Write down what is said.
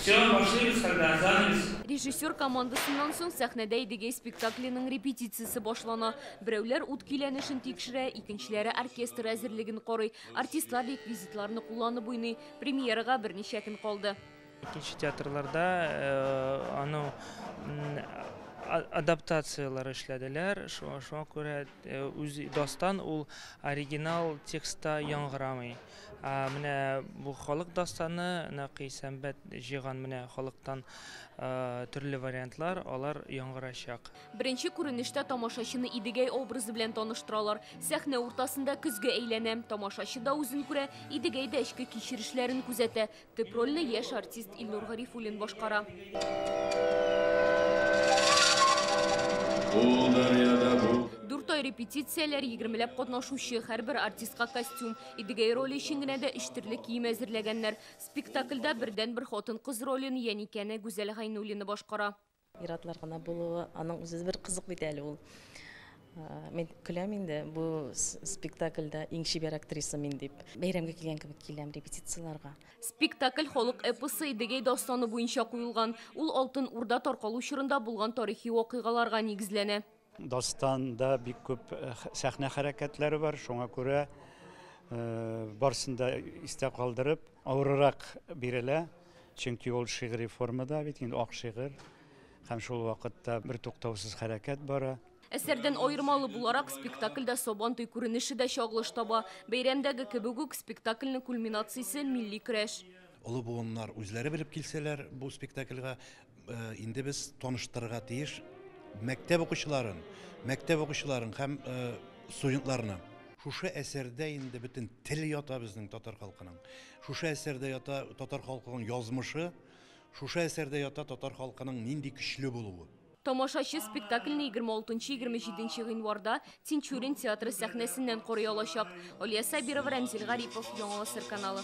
Все, башлыйбыз хәлдә, занавес. Режиссер командасыннан соң сәхнәдә Идегәй спектакленең репетициясе башлана. Берәүләр ут көйләнешен тикшерә, икенчеләре оркестр әзерлеген карый, артистлар реквизитларны кулланып уйный. Премьерага берничә көн калды. Икенче театрларда аның адаптацияләр эшләделәр, шуңа күрә үз дастан ул оригинал текстта яңгырамый. Менә бу халык дастаны, Нәкый Сәмбәт җыйган менә халыктан төрле вариантлар, алар яңгырачак. Беренче күренештә тамашачыны Идегәй образы белән таныштыралар. Сәхнә уртасында көзге әйләнә. Тамашачы да үзен күрә, Идегәй дә эчке кичерешләрен күзәтә. Төп рольне яшь артист Илнур Гарифуллин башкара. Дүрт ай репетицияләр, егермеләп катнашучы, һәрбер артистка костюм. Идегәй роле өчен генә дә өч төрле кием әзерләгәннәр. Спектакльдә бердәнбер хатын-кыз ролен Яникәне Гүзәл Гайнуллина башкара. Ир-атлар гына булуы, аның үзе бер кызык бит әле ул. Мин көләм инде, бу спектакльдә иң чибәр актриса мин дип. Бәйрәмгә килгән кебек киләм репетицияләргә. Спектакль халык эпосы Идегәй дастаны буенча куелган. Ул Алтын Урда таркалу чорында булган тарихи вакыйгаларга нигезләнә. Дастанда бик күп сәхнә хәрәкәтләре бар, шуңа күрә барсын да истә калдырып, авырырак бирелә, чөнки ул шигъри формада бит инде ак шигырь һәм шул вакытта бертуктаусыз хәрәкәт бара. Әсәрдән аермалы буларак, спектакльдә Сабантуй күренеше дә чагылыш таба. Бәйрәмдәге кебек үк, спектакльнең кульминациясе, милли көрәш. Олы буыннар үзләре белеп килсәләр, бу спектакльгә инде без таныштырырга тиеш мәктәп укучыларын, мәктәп укучыларын һәм студентларны. Шушы әсәрдә инде бөтен тел ята безнең татар халкының. Шушы әсәрдә ята татар халкының язмышы, шушы әсәрдә ята татар халкының нинди көчле булуы. Тамашачы спектакльне 26-27 гыйнварда Тинчурин театры сәхнәсеннән карый алачак. Алия Сабирова, Рәмзил Гарипов, Яңа гасыр каналы.